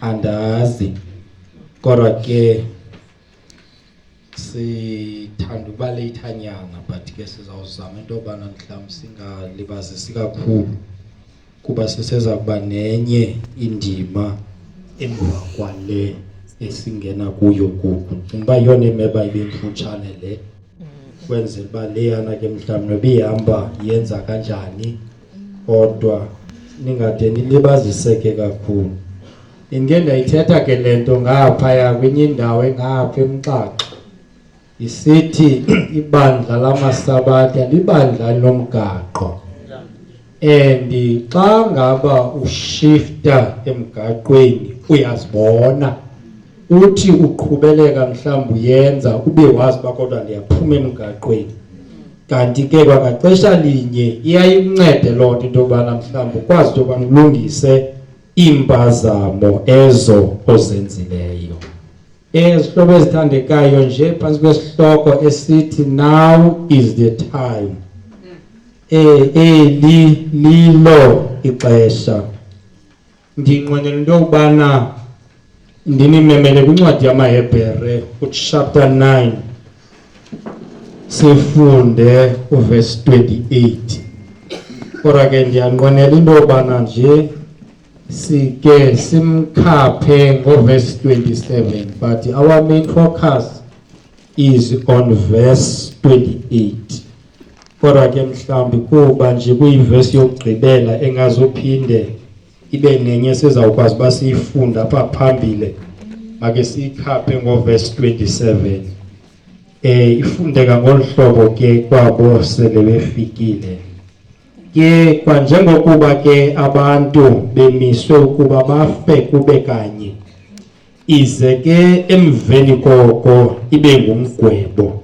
andazi kodwa ke sithanda uba leyithanyana but ke sizawuzama into yobana mhlawumbi singalibazisi kakhulu kuba siseza kuba nenye indima emva kwale esingena kuyo kuku cinga uba yiyona emeba ibe mfutshane le kwenzela uba leyana ke mhlawumbi noba ihamba yenza kanjani kodwa ningade nilibaziseke kakhulu inke ndayithetha ke le nto ngaphaya kwenye indawo engapha emxaxa isithi ibandla lamasabatha libandla lomgaqo and xa ngaba ushifta emgaqweni uyazibona uthi uqhubeleka mhlawumbi uyenza ube wazi uba kodwa ndiyaphuma emgaqweni kanti ke kwangaxesha linye iyayikuncede loo nto into yobana mhlawumbi ukwazi into yobana ulungise iimpazamo ezo ozenzileyo ezihlobo ezithandekayo nje phantsi kwesihloko esithi now is the time eh, eli lilo ixesha ndiyinqwenela into yokubana ndinimemele kwincwadi yamahebhere uchapter 9 sifunde uvesi 28 kodwa ke ndiyanqwenela into yobana nje sike simkhaphe ngovesi 27 but our main focus is on verse 28 kodwa ke mhlawumbi kuba nje kuyivesi yokugqibela engazophinde ibe nenye sizawukwazi uba siyifunda apha phambile make siyikhaphe ngovesi 27 um eh, ifundeka ngolu hlobo ke kwabo sele befikile ke kwanjengokuba ke abantu bemiswe ukuba bafe kube kanye ize ke emveni koko ibe ngumgwebo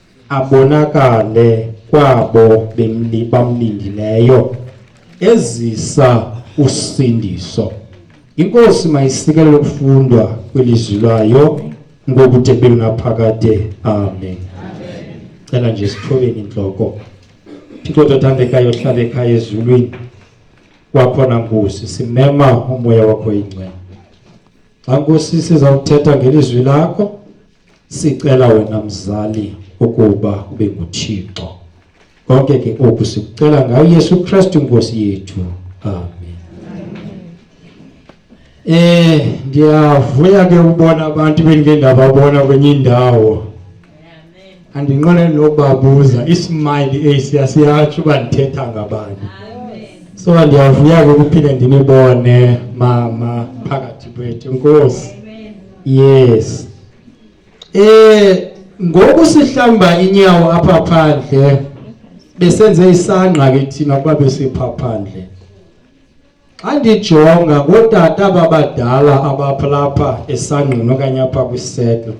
abonakale kwabo bamlindileyo ezisa usindiso. Inkosi mayisikelele ukufundwa kwelizwi layo ngokude belunaphakade. Amen. Cela nje sithobeni intloko. Thixo tothandekayo hlala ekhaya ezulwini wakhona Nkosi simema umoya wakho ingcwele. Xa Nkosi sizawuthetha ngelizwi lakho Sicela wena mzali ukuba kube nguThixo. Konke ke oku sikucela ngayo Yesu Kristu Nkosi yethu. Amen. Eh ndiyavuya ke ubona abantu bendike ndababona kwenye indawo. Andinqone nokubabuza ismile esiya siyatsho uba ndithetha ngabani. So ndiyavuya ke ukuphinde ndinibone mama phakathi kwethu. Nkosi. yes eh ngoku sihlamba inyawo apha phandle besenze isangqa ke thina kuba besipha phandle xa ndijonga ngootata babadala abapha lapha esangqini okanye apha kwisetlo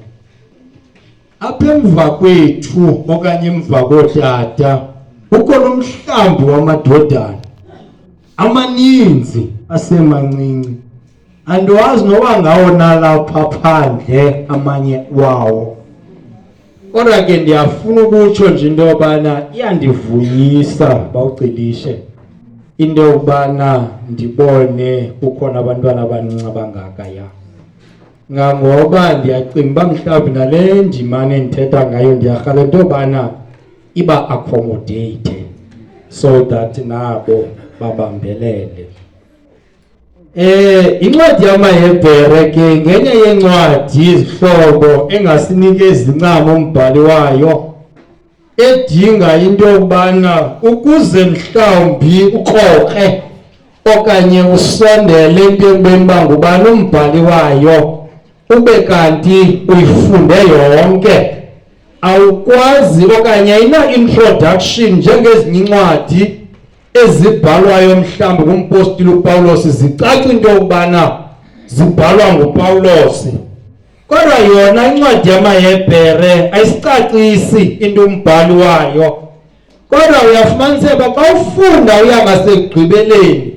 apha emva kwethu okanye emva kootata kukho nomhlambi wamadodana amaninzi asemancinci andiwazi noba ngawo nalapha phandle amanye wawo kodwa ke ndiyafuna ukutsho nje into yobana iyandivuyisa bawugcilishe into yokubana ndibone kukhona abantwana abancinci abangaka ya ngangoba ndiyacinga uba mhlawumbi nale ndimane ndithetha ngayo ndiyarhala into yobana iba accommodate so that nabo babambelele Eh incwadi yamaHebhere ke ngenye yencwadi izihlobo engasinike izincamo umbhali wayo edinga into yokubana ukuze mhlawumbi ukroke okanye usondele into ekubeni uba ngubani umbhali wayo ube kanti uyifunde yonke awukwazi okanye ayina-introduction njengezinye incwadi ezibhalwayo mhlawumbi ngumpostile upawulos zicaca into yokubana zibhalwa ngupawulosi Kodwa yona incwadi yamaHebhere ayisicacisi into umbhali wayo. Kodwa uyafumanisa uba xa ufunda uya ngasekugqibeleni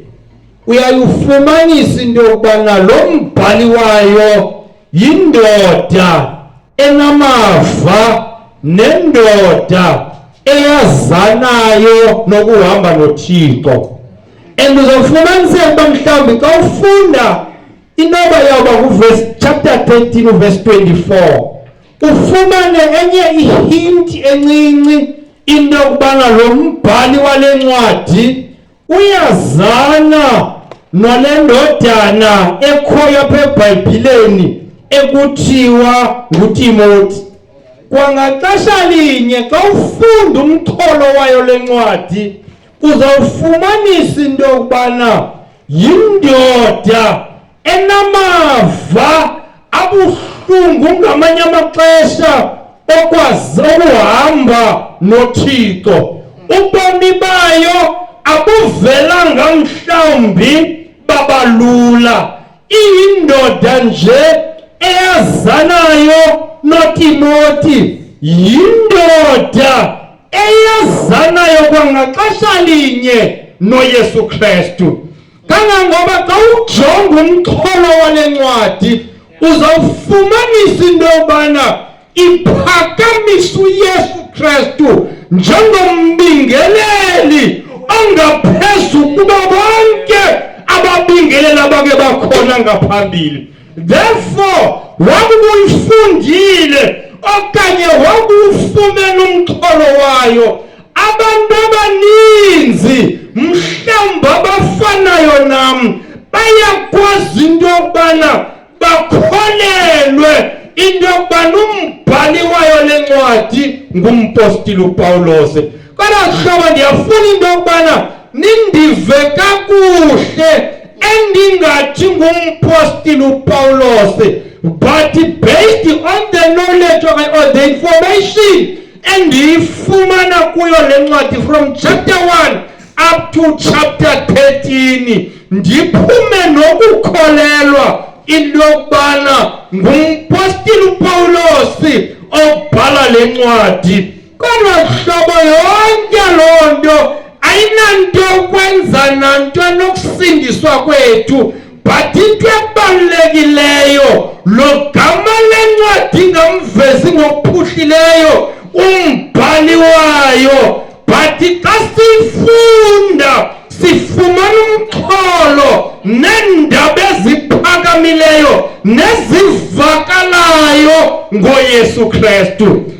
uyayifumanisa into yokubana lo mbhali wayo yindoda enamava nendoda eyazanayo nokuhamba noThixo and uzofumaniseka uba mhlawumbi xa ufunda Inoba yawuba kuverse chapter 13 uverse 24 ufumane enye ihinti encinci into yokubana lo mbhali wale ncwadi uyazana nale ndodana ekhoyo apha ebhayibhileni ekuthiwa ngutimoti kwangaxesha linye xa ufunda umxholo wayo le ncwadi uzawufumanisa into yokubana yindoda enamava abuhlungu ngamanye amaxesha okwazi ukuhamba nothixo ubomi bayo abuvelanga mhlawumbi babalula iyindoda nje eyazanayo notimoti yindoda eyazanayo kwangaxesha linye noYesu Kristu kangangoba xa ujonga umxholo wale ncwadi uzawufumanisa into yobana iphakamisa uyesu kristu njengombingeleli ongaphezu kuba bonke ababingelela bake bakhona ngaphambili therefore wakubuyifundile okanye wakuwufumela umxholo wayo abantu abaninzi mhlawumbi abafanayo nam bayakwazi into yokubana bakholelwe into yokubana umbhali wayo le ncwadi ngumpostile upawulose Banakuhlobo ndiyafuna into yokubana nindive kakuhle endingathi ngumpostile upawulose but based on the knowledge of or the information endiyifumana kuyo le ncwadi from chapter 1 up to chapter 13 ndiphume nokukholelwa into yokubana ngumpostile upawulosi obhala le ncwadi Kodwa hlobo yonke loo nto ayinanto ukwenza nanto nokusindiswa kwethu but into ebalulekileyo lo gama lencwadi ngamvezi ngokuphuhlileyo umbhali wayo but xa siyifunda sifumana umxholo neendaba eziphakamileyo nezivakalayo ngoyesu kristu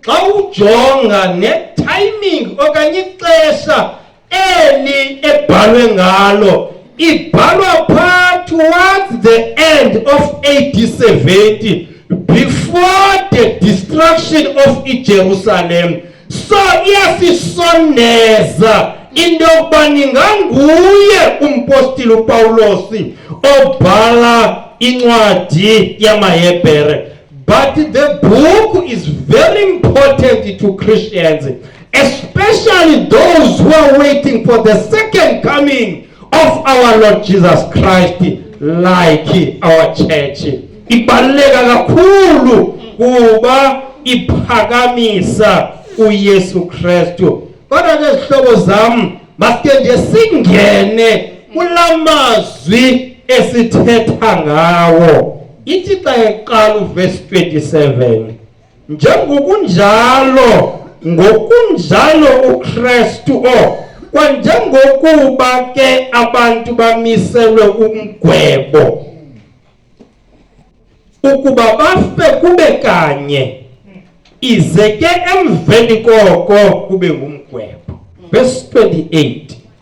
xa ujonga netiming okanye ixesha eli ebhalwe ngalo ibhalwa phaa towards the end of ad 70 before the destruction of ijerusalem so iyasisondeza into yokuba ninganguye umpostile upawulosi obhala incwadi yamahebhere But the book is very important to Christians, especially those who are waiting for the second coming of our Lord Jesus Christ, like our church. Ibaluleka kakhulu kuba iphakamisa uYesu Kristu. Kodwa ke zihlobo zam, masike nje singene kulamazwi esithetha ngawo. ithi xa iqala uvesi 27 njengokunjalo ngokunjalo ukrestu o kwanjengokuba ke abantu bamiselwe umgwebo ukuba bafe kube kanye ize ke emveni koko kube ngumgwebo verse 28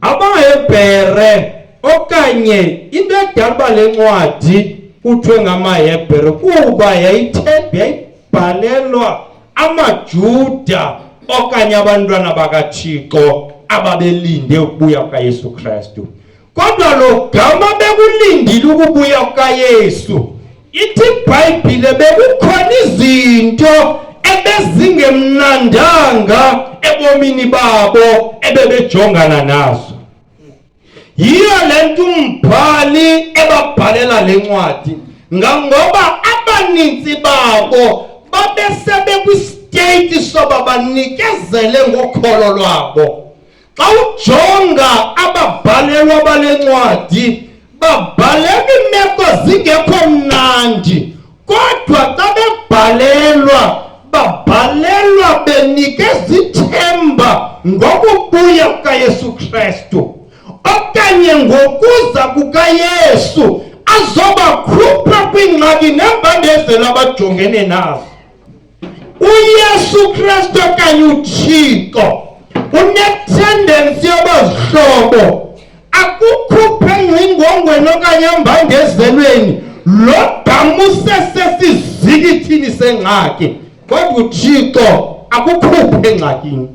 AmaHebhere okanye into edala uba le ncwadi kuthiwe ngamaHebhere kuba yayibhalelwa amaJuda okanye abantwana bakaThixo ababelinde ukubuya kukaYesu Kristu. Kodwa lo gama bekulindile ukubuya kukaYesu ithi ibhayibhile bekukhona izinto ebezingemnandanga ebomini babo ebebejongana nazo yiyo le nto umbhali ebabhalela le ncwadi ngangoba abaninzi babo babesebekwisiteyiti soba banikezele ngokholo lwabo xa ujonga ababhalelwa bale ncwadi babhalela iimeko zingekho mnandi kodwa xa bebhalelwa babhalelwa benike zithemba ngokubuya kukayesu kristu okanye ngokuza kukayesu azobakhupha kwiingxaki neembandezelo abajongene nazo uYesu Kristu okanye uThixo unetendensi yoba zihlobo akukhuphe engcingongweni okanye embangezelweni lo gama usesesizikithini sengxaki kodwa uthixo akukhuphe engxakini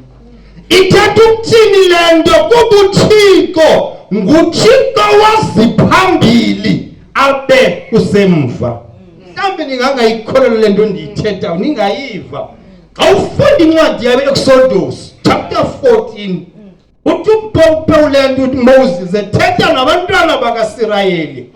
ithetha ukuthini le nto kuba uthixo nguthixo waziphambili abe usemva mhlawumbi ningangayikholelo le nto ndiyithethayo ningayiva xa ufunda incwadi yabe exodus chapter 14 uthi upewule nto uthi moses ethetha nabantwana bakasirayeli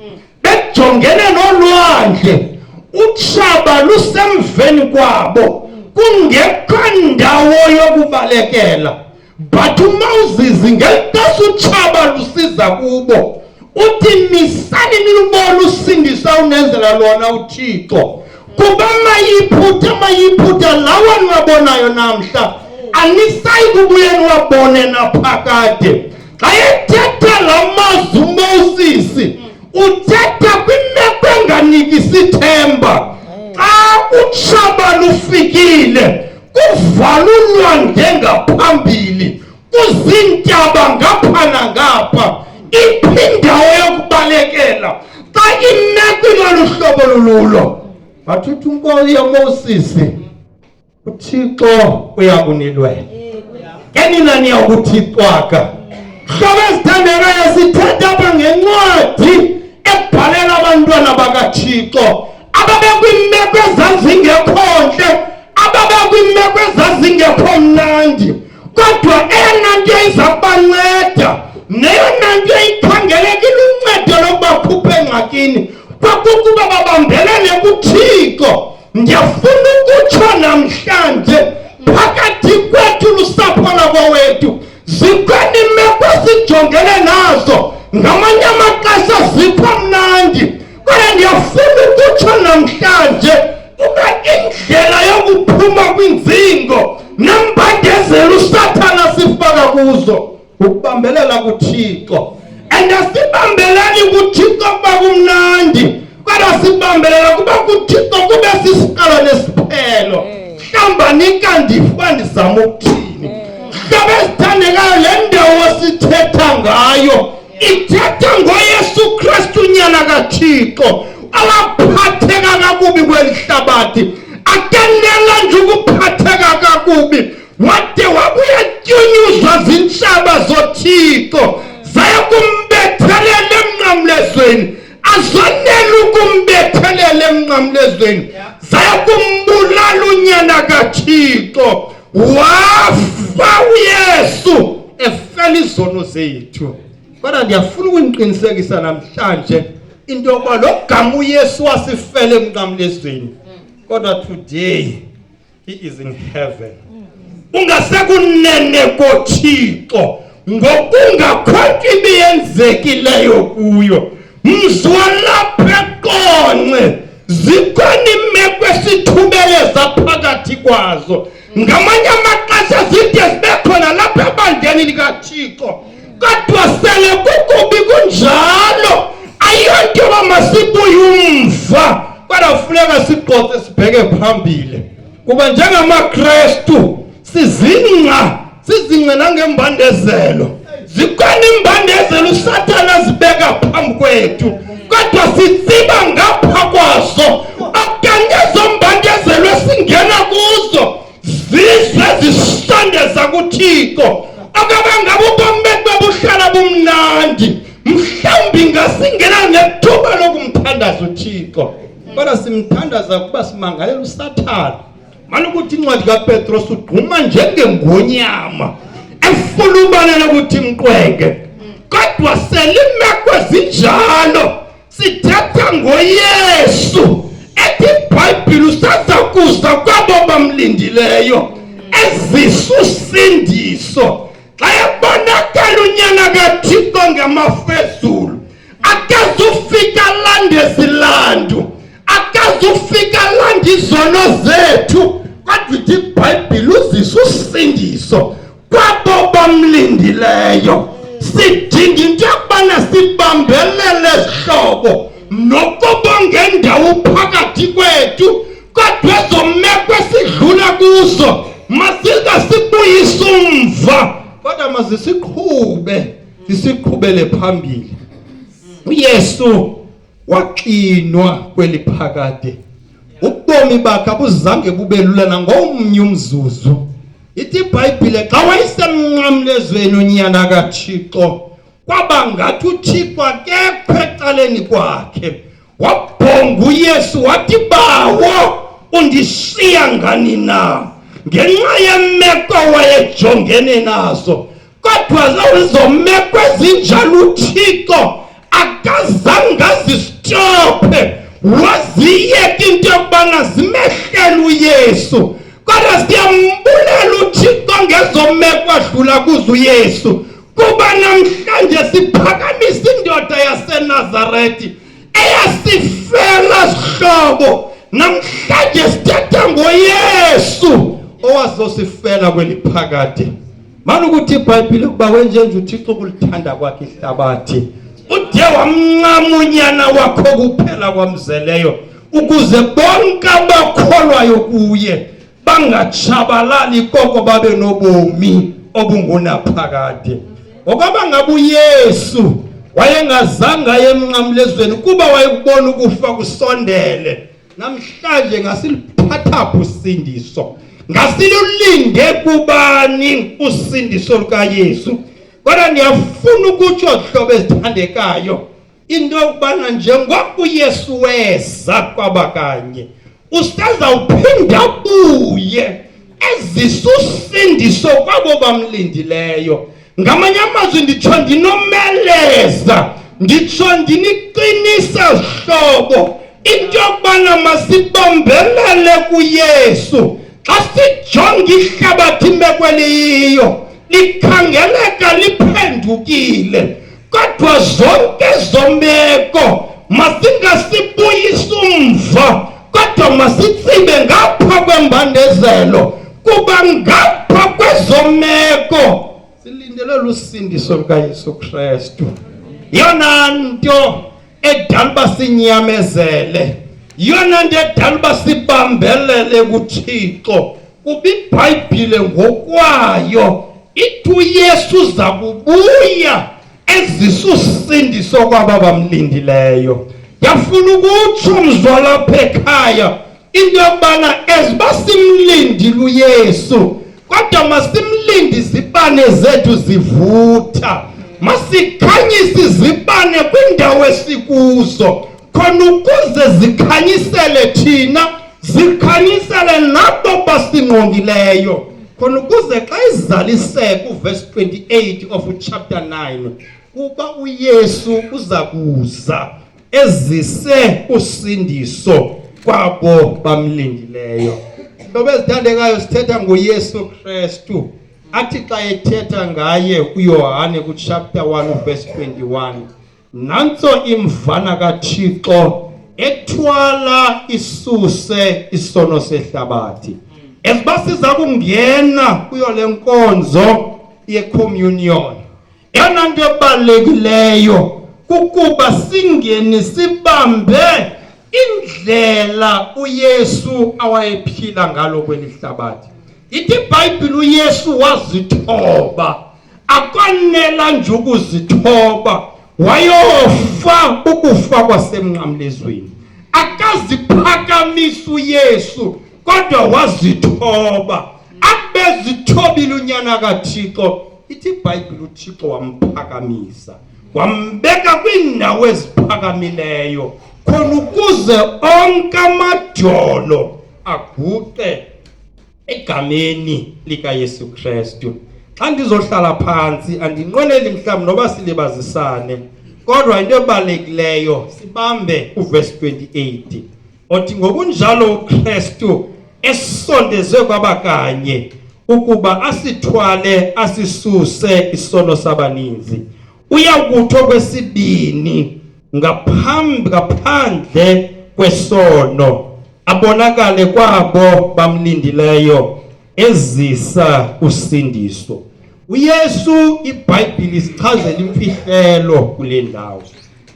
bejongene nolwandle utshaba lusemveni kwabo kungekho ndawo yokubalekela but umawuzizi ngelixesha utshaba lusiza kubo uthi misani nilubona usindisa unenzela lona uthixo kuba mayiphutha mayiphutha lawa niwabonayo namhla anisayi kubuye niwabone naphakade xa ethetha la mazwi umosisi uthetha kwimeko enganikisi ithemba xa utshaba lufikile kuvalulwa ngengaphambili kuziintaba ngapha nangapha iphindawo yokubalekela xa imeko ilolu hlobo lululo bathuthi unkosi yomosisi uthixo uyakunilwela enina niyakuthixwaka hlobo ezithandekayo sithetha apha ngencwadi ebhalela abantwana bakathixo ababekwiimeko ezazingekho ntle ababekwiimeko ezazingekho mnandi kodwa eyona nto iza kubanceda neyona nto ikhangeleka iluncedo lokubakhupha engxakini kwakukuba babambelele kuthixo ndiyafuna ukutsho namhlanje phakathi kwethu lusapho lakowethu zikhona imeko sijongene nazo ngamanye amaxesha zipha mnandi Kodwa ndiyafuna ukutsho namhlanje uba indlela yokuphuma kwinzingo nembandezelo usathana sifaka kuzo ukubambelela kuthixo and asibambelani kuthixo kuba kumnandi kodwa sibambelela kuba kuthixo kube sisiqalo nesiphelo hlamba nikandifuba ndizama ukuthini hlaba ezithandekayo le ndawo sithetha ngayo ithetha ngoyesu kristu nyana kathixo awaphatheka kakubi kweli hlabathi atenela nje ukuphatheka kakubi wade wabuya tyunyuzwa zintshaba zothixo zayokumbethelela emnqamlezweni azonela ukumbethelela emnqamlezweni zayokumbulala unyana kathixo wafa uyesu efela izono zethu kodwa ndiyafuna ukuniqinisekisa namhlanje into yokuba lo gama uyesu wasifele emnqamlezweni kodwa today he is in heaven ungasekunene kothixo ngokungakho nto ibiyenzekileyo kuyo Mzwalaphaqonce zikhona imeko esithubeleza phakathi kwazo ngamanye amaxesha zide zibe khona lapha ebandleni likathixo kodwa sele kukubi kunjalo ayonto yoba masibuye umva kodwa kufuneka siqoqe sibheke phambili kuba njengamakrestu sizingca sizingce nangembandezelo zikhona imbandezelo usathana azibeka phambi kwethu kodwa sitsiba ngapha kwazo okanye ezo mbandezelo esingena kuzo zize zisondeza kuthixo okaba ngabe ubomi bethu babuhlala bumnandi mhlawumbi ngasingena ngethuba lokumthandaza uthixo kodwa simthandaza kuba simangalela usathana Mani ukuthi incwadi kaPetros ugquma njengengonyama efulubanela ukuthi mqwenge. Kodwa selimeko ezinjalo sithetha ngoYesu ethi iBhayibhile usaza kuza kwabo bamlindileyo ezisa usindiso xa ebonakala unyana kaThixo ngamafezulu akazufika alande zilandu akazufika alande izono zethu kodwa ithi ibhayibhile uzisa usindiso kwabo bamlindileyo sidinga into yokubana sibambelele zihlobo nokuba ngendawo phakathi kwethu kodwa ezomeko esidlula kuzo masize sibuyise umva kodwa mazisiqhube Isiqhubele phambili. UYesu waxinwa kweli phakade. Ubomi bakhe abuzange bube lula nangomnye umzuzu. Ithi iBhayibhile xa wayesemnqamlezweni unyana kaThixo kwaba ngathi uThixo akekho ecaleni kwakhe. wabhonga uyesu wathi bawo undishiya ngani na ngenxa yemeko wayejongene nazo kodwa lezo meko ezinjalo uthixo akazange azisitophe waziyeka into yokubana zimehlele uyesu kodwa siyambulela uthixo ngezo meko adlula kuzo uyesu Kuba namhlanje siphakamisa indoda yaseNazaretha eyasifela sihlobo namhlanje sithetha ngoYesu owazosifela kweliphakade manje ukuthi iBhayibhile ukuba wenjenje uThixo kulithanda kwakhe ihlabathi uthe wamncama unyana wakho kuphela kwamzeleyo ukuze bonke abakholwayo kuye bangatshabalali koko babe nobomi obungunaphakade ngokwaba ngaba uyesu wayengazange aye emnqamlezweni kuba wayekubona ukufa kusondele namhlanje ngasiliphathapha usindiso ngasilulinde kubani usindiso lukayesu kodwa ndiyafuna ukutsho hlobo ezithandekayo into yokubana njengoko uyesu weza kwabakanye usazawuphinda buye ezisa usindiso kwabo bamlindileyo ngamanye amazwi nditsho ndinomeleza nditsho ndiniqinisa zihlobo into yokubana masibambelele kuyesu xa sijonga ihlabathi imeko eliyiyo likhangeleka liphendukile Kodwa zonke zombeko masingasibuyisi umva kodwa masitsibe ngapha kwembandezelo kuba ngapha kwezomeko silindelwe lusindiso lukayesu kristu yona nto edala uba sinyamezele yona nto edala uba sibambelele kuthixo Kuba iBhayibhile ngokwayo ithi uYesu uza kubuya ezisa usindiso kwaba bamlindileyo. Yafuna ukutsho mzwala apha ekhaya into yokubana eziba simlindile uYesu kodwa masimlinde izibane zethu zivutha masikhanyise izibane kwindawo esikuzo khona ukuze zikhanyisele thina Zikhanyisele lapho basingqongileyo khona ukuze xa izaliseka uverse 28 of chapter 9 kuba uYesu uza kuza ezise usindiso kwabo bamlindileyo. Ngoba ezithandekayo sithetha ngoYesu Kristu. athi xa ethetha ngaye uyohane kuchapter 1 verse 21 Nantso imvana kaThixo ethwala isuse isono sehlabathi. Esiba siza kungena kuyo le nkonzo yecommunion. Eyona nto ebalulekileyo kukuba singene sibambe indlela uYesu awayephila ngalo kweli hlabathi. Ithi iBhayibhile uYesu wazithoba akwanela nje ukuzithoba wayofa ukufa kwasemnqamlezweni akaziphakamisa uyesu kodwa wazithoba abezithobile unyana kathixo ithi ibhayibhile uthixo wamphakamisa wambeka kwiindawo eziphakamileyo khona ukuze onke amajolo aguqe egameni likaYesu Kristu xa ndizohlala phantsi andinqweneli mhlawumbi noba silibazisane kodwa into ebalulekileyo sibambe uvesi 28 othi ngokunjalo uKristu esondezwe kwaba kanye ukuba asithwale asisuse isono sabaninzi uyakuthi okwesibini ngaphambi ngaphandle kwesono abonakale kwabo bamlindileyo ezisa usindiso uyesu ibhayibhile isichazela imfihlelo kule ndawo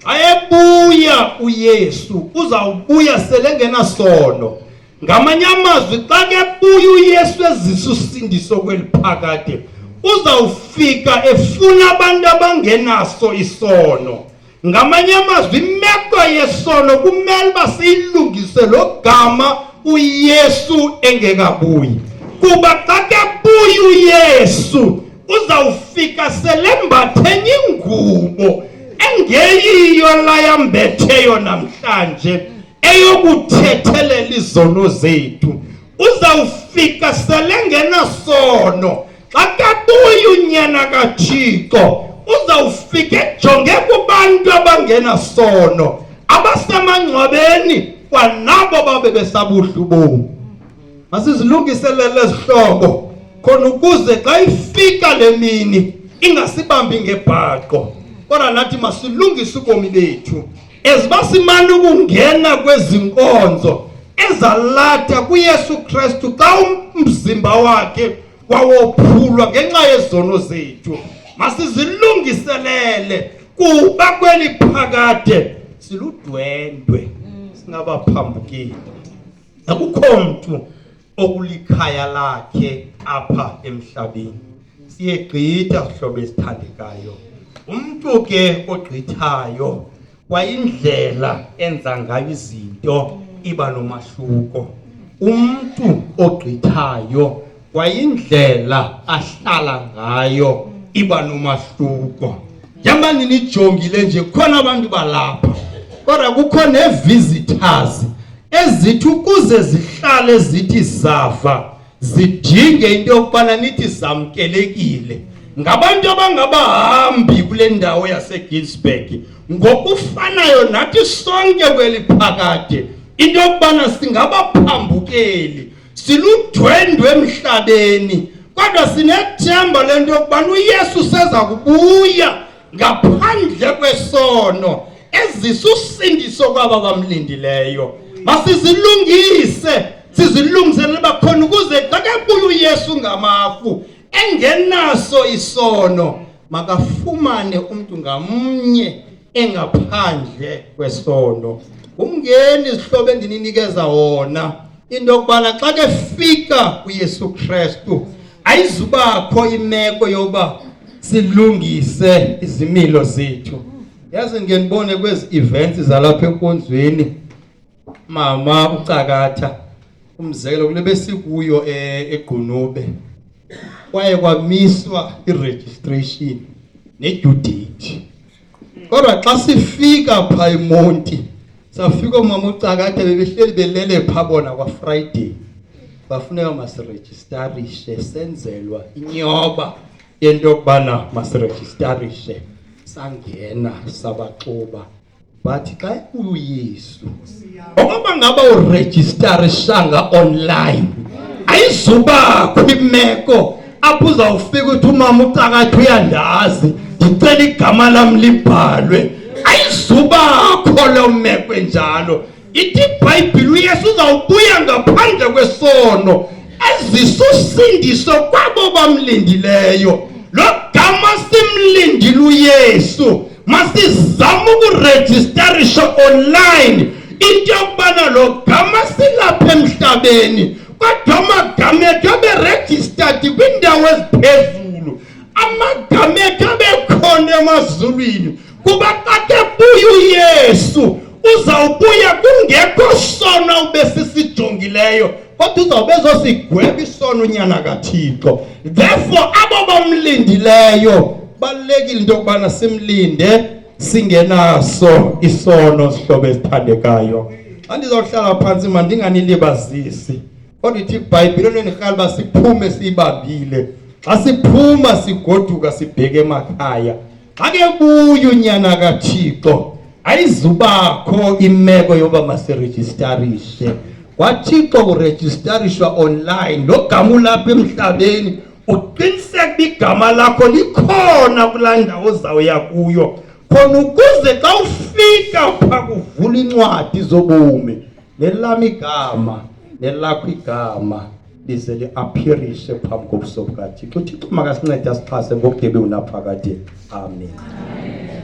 ayebuya uyesu uzawubuya selengenasono ngamanye amazwi xa kebuya uyesu ezisa usindiso kweli phakade uzawufika efuna abantu abangenaso isono ngamanye amazwi imeko yesono kumele uba siyilungise lo gama uyesu engekabuyi kuba xa kebuya uyesu uzawufika selembathenya ingubo engeyiyo layambetheyo namhlanje eyokuthethelela izono zethu uzawufika selengenasono xa kabuya unyana kathixo uzawufika ejonge kubantu abangenasono abasemangcwabeni kwanabo babe besabuhlu bomu masizilungiselele ezihlobo khona ukuze xa ifika le mini ingasibambi ngebhaqo kodwa nathi masilungise ubomi bethu As basimana ukungena kwezi nkonzo ezalatha kuYesu Kristu xa umzimba wakhe wawophulwa ngenxa yezono zethu masizilungiselele kuba kweli phakade siludwendwe singabaphambukeli akukho mntu okulikhaya lakhe apha emhlabeni siyegqitha sihlobo esithandekayo umntu ke ogqithayo kwayindlela enza ngayo izinto iba nomahluko umntu ogqithayo kwayindlela ahlala ngayo iba nomahluko Njengoba ninijongile nje khona abantu balapha kodwa kukho nevisitors ezithi ukuze zihlale zithi zava zidinge into yokubana nithi zamkelekile ngabantu abangabahambi kule ndawo yaseGinsberg ngokufanayo nathi sonke kweli phakade into yokubana singabaphambukeli siludwendwe emhlabeni kodwa sinethemba lento yokubana uYesu seza kubuya ngaphandle kwesono ezisa usindiso kwaba bamlindileyo masizilungise sizilungiselele bakhona ukuze xa kebuya uYesu ngamafu engenaso isono makafumane umntu ngamnye engaphandle kwesono ngumngeni izihlobo endininikeza wona into yokubana xa kefika kuyesu kristu ayizubakho imeko yoba silungise izimilo zethu yazi ngenibone kwezi events zalapha enkonzweni Mama ucakatha umzekelo kule besikuyo e- egqunube kwaye kwamiswa i-registration ne-due date kodwa xa sifika phaa emonti safika oomama ucakatha bebehleli belele phaa bona kwafriday bafuneka masirejistarishe senzelwa inyoba yento yokubana masirejistarishe sangena sabaxuba but xa enkulu yesu okoba ngaba urejistarisanga online ayizubakho imeko apho uzawufika uthi umama ucakathi uyandazi ndicela igama lam libhalwe ayizubakho loo meko enjalo ithi ibhayibhile uyesu uzawubuya ngaphandle kwesono ezisa usindiso kwabo bamlindileyo lo gama simlindile uyesu masizame ukurejistarisha online into yokubana lo gama silapha emhlabeni kodwa amagama ethu aberegistered kwiindawo eziphezulu amagama ethu abekhona emazulwini Kuba xa kebuya uYesu uzawubuya kungekho sono ubesisijongileyo kodwa uzawube ezosigweba isono unyana kaThixo. Therefore abo bamlindileyo balekile into yokubana simlinde singenaso isono sihlobo esithandekayo. Xa ndizawuhlala phantsi mandinganilibazisi. Kodwa ithi iBhayibhile lenirhala uba siphume siyibambile. Xa siphuma sigoduka sibheke emakhaya. Xa kebuya unyana kaThixo ayizubakho imeko yoba masirejistarishe kwathixo kurejistarishwa online lo gama ulapha emhlabeni uqiniseka uba igama lakho likhona kulaa ndawo ozawuya kuyo khona ukuze xa ufika pha kuvula incwadi zobomi nelam igama nelakho igama lize liaphirishe phambi kobuso bukathixo uthixo makasincede asixhase ngokudebe unaphakade amen, amen.